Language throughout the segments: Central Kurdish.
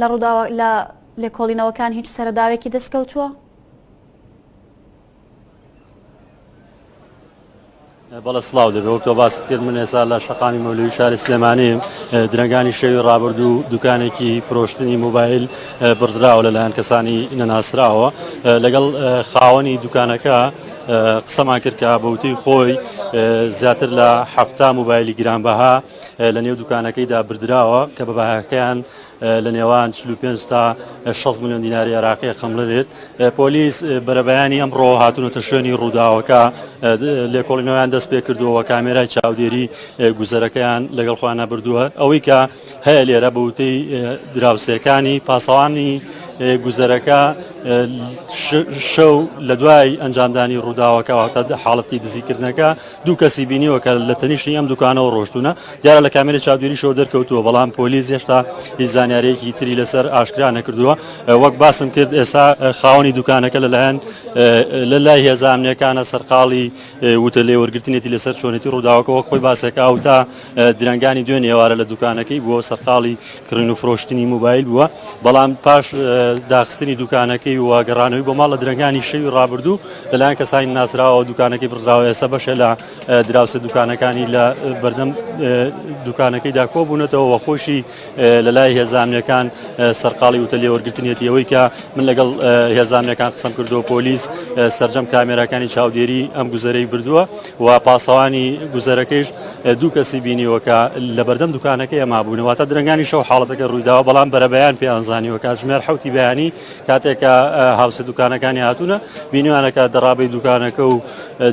لە ڕووداوە لە لێکۆڵینەوەکان هیچ سەرەداوێکی دەستکەوتووە؟ بەڵە سلااو دەبێ وەک تۆ باست کرد من ێسا لە شقامی مەولوی شاری سلێمانی درنگانی شەوی ڕابردوو دوکانێکی فرۆشتنی موبایل بڕدراوە لەلایەن کەسانی نەناسراوە لەگەڵ خاوەنی دوکانەکە قسەمان کرد کە بەوتەی خۆی زیاتر لە هەفتا موبایلی گرانبەها لە نێو دوکانەکەیدا بردراوە کە بە بەهاکەیان لە نێوان 45 تا 6 میلیۆن دیناری عێراقی خەمڵەێت پۆلیس بەرەبەیانی ئەمڕۆ هاتونەتە شوێنی ڕووداوەکە لێکۆڵینەوەیان دەست پێ کردووە کامێرای چاودێری گوزەرەکەیان لەگەڵ خوانە بردووە ئەوەی کە هەیە لێرە بەوتەی دراوسێکانی پاسەوانی گوزەرەکە شەو لە دوای ئەنجامدانی ڕووداوەکەەوە تا حاڵەتی دزیکردنەکە دوو کەسی بینیوە کە لە تەنیشتی ئەم دوکانەوە ڕۆشتوونە، دیارە لە کامێرەی چاودێریشەوە دەرکەوتووە، بەڵام پۆلیس هێشتا هیچ زانیارییەکی تری لەسەر ئاشکرا نەکردووە، وەک باسم کرد ئێستا خاوەنی دوکانەکە لەلایەن لەلای هێزە ئەمنییەکانە سەرقاڵی وتە لێوەرگرتنێتی لەسەر چۆنێتی ڕووداوەکە، وەک خۆی باسەکە ئەو تا درەنگانی دوێنێ ئێوارە لە دوکانەکەی بووە و سەرقاڵی کڕین و فرۆشتنی موبایل بووە، بەڵام پاش داخستنی دوکانەکەی و گەڕانەوەی بۆ ماڵ لە درەنگانی شەوی ڕابردوو لەلایەن کەسانی ناسراوەوە دوکانەکەی بڕدراوە، ئێستا بەشێ لە دراوسێ دوکانەکانی لە بەردەم دوکانەکەیدا کۆبوونەتەوە و خۆشی لەلای هێزە ئەمنییەکان سەرقاڵی وتەلێوەرگرتنیەتی، ئەوەی کە من لەگەڵ هێزە ئەمنییەکان قسەم کردووە پۆلیس سەرجەم کامێراکانی چاودێری ئەم گوزەرەی بردووە. و پاسەوانی گوزەرەکەیش دوو کەسی بینیوە کە لەبەردەم دوکانەکەی مابوون، واتە درەنگانی شەو حاڵەتەکە روویداوە، بەڵام بەرەبەیان پێیان زانیوە، کاتژمێر حەوتی بەیانی کاتێک کە هاوسێ دوکانەکانی هاتوونە بینیوانە کە دەڕابەی دوکانەکە و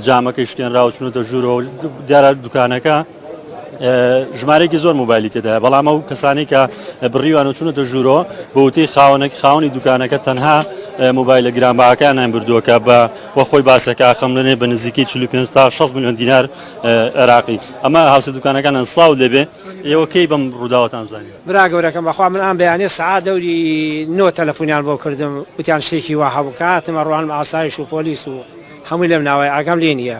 جامەکەی شکێنراوە چوونەتە ژوورەوە و دیارە دوکانەکە ژمارەیەکی زۆر مۆبایلی تێدایە بەڵام ئەو کەسانی کە بڕیوان و چونەتە ژوورۆ بەوتەی خاوەنێک خاونی دوکانەکە تەنها مۆبایلە گرانباکانیان بردووەکە بە وەخۆی باسەکە خەملێنێ بە نزیکی 45 تا 6 میلیۆن دینار عێراقی ئەمە هاوسە دوکانەکانیان سڵاو لێبێ ئێوە کەی بەم ڕووداوەتان زانی برا گەورەکەم بەخوا من ئەم بەیانیە سەعات دەوری نۆ تەلەفونیان بۆ کردم وتیان شتێکی وا هەبوو کە هاتم ئەڕوانم ئاسایش و پۆلیس و هەمووی لەم ناوەیە ئاگام لێ نییە.